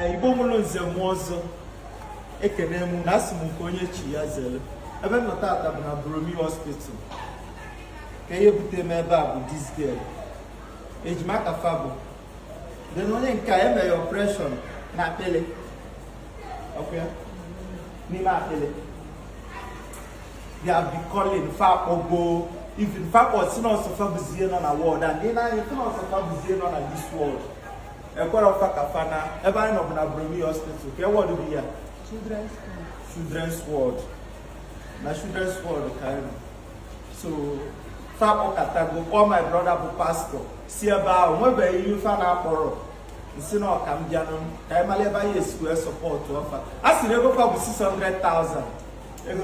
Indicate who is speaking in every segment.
Speaker 1: igbo mụrụ nze mụọ ọzọ ekene m unu asị m nke onye chi ya zere ebe m nọ tata bụ na Borromeo hospital ka ihe bute m ebe a bụ this girl ejima ka fa bụ then onye nke a emere operation na akpịlị okay n'ime akpịlị they have been calling fa akpọgo even fa kpọ sị na ọ sọ fa bụzie nọ na ward and ị nee anya fụ na ọ sọ fa bụzie nọ na this ward ekwerọ fa ka fa naa ebe anyị nọbụ na Borromeo hospital kee ward bụ ihe a children's ward na children's ward ka anyị nọ so fa akpọkatago kpọọ my brother bụ pastọ si ebe ahụ nwebeghị ihe fa na-akpọrọ m sị na ọ ka m bịanụ ka anyị mara ebe anyị esi wee sọpọtụọ fa a sị na ego fa bụ 600,000 ego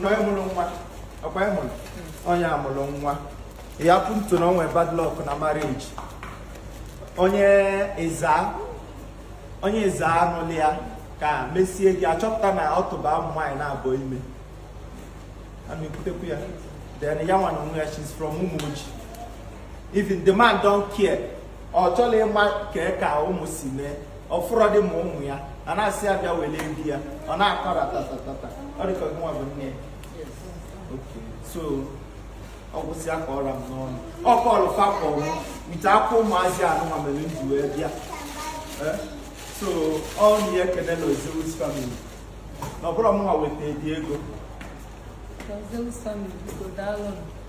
Speaker 1: na onye mụrụ nwa ọkwa ịhụrụ onye amụrụ nwa ya pụntu na o nwe bad luck na marriage onye Ezza onye Ezza nụlụ ya ka e mesịa ji achọpụta na ọ tụba ụmụ nwaanyị naabọ ime ana ekwutekwu ya then ya nwa na onwe ya she's from Umuoji even the man don't care ọ chọlọ ịma ka ka ụmụ si mee ọ fụrọ di ma ụmụ ya a na-asị ya bịa wele di ya ọ na-akọ ratatatata ọ dịka gị nwa bụ nne ya Okay, so ọ gwụsịa ka ọ ra m n'ọnụ ọ kọrọ fa kọrọ nche akwa ụmụazị anụnwa mere m ji wee bịa Eh, so unu ya-ekene Lord Zeus family na ọ bụrọ mụnwa weta the ego Ka
Speaker 2: Zeus family biko daalụ nụ.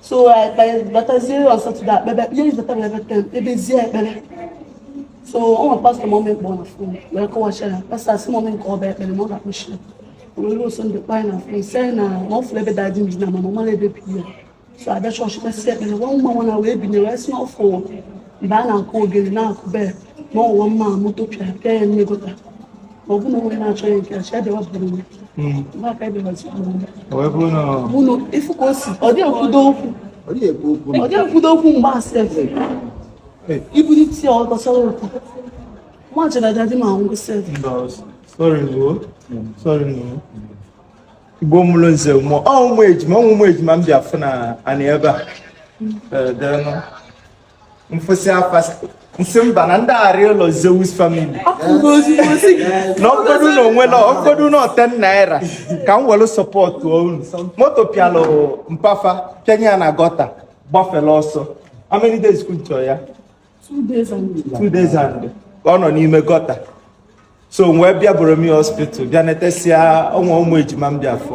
Speaker 3: so batazie on Saturday e kpebe ihe iji bata mere bete ebezie ekpere so o nwe pastọ mọmị kpọọ na fon wee kọwacha ya pastọ asị mọmị m kpeba ekpere na ọ ga-akpọchi ya wee ruo sọnde kpọọ na fon sị na ọ fụrụ ebe dadi m dina mana ọ marọ ebe bi ya so a bịa chọọchị kpesịa ekpere nwa nwa nwa na wee binye wee sị na ọ fụrụ mgbe a na-akụ ogene na-akụ bee na ọwụwa mma moto pịa pịa ya n'ime gọta
Speaker 1: igbo mụrụ nze mụ ụmụ ejima ụmụ ejima m bịa fụ na anị ebe a m fụsịa fa sị m sị mba na m ga-arịọ Lord Zeus family na ọ bụgodu na ọ one naira ọ bụgodu na ọ ten naira ka m were sọpọtụ unu moto pịalụ mpa fa pịanye ya na gọta gbafere ọsọ how many days ka unu chọ
Speaker 3: ya two days
Speaker 1: and ọ nọ n'ime gọta so wee bịa Borromeo hospital bịa netesịa ọnwa ụmụ ejima m bịa afụ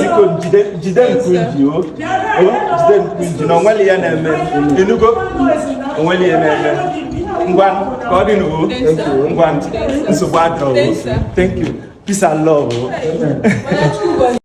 Speaker 1: biko jide jide nke unu ji o jide nke unu ji na o nweli ihe a na-eme i nugo o nweli ihe a na-eme ngwa ka ọ dị nụ o ngwa nsogbu adịrọ thank you peace and love o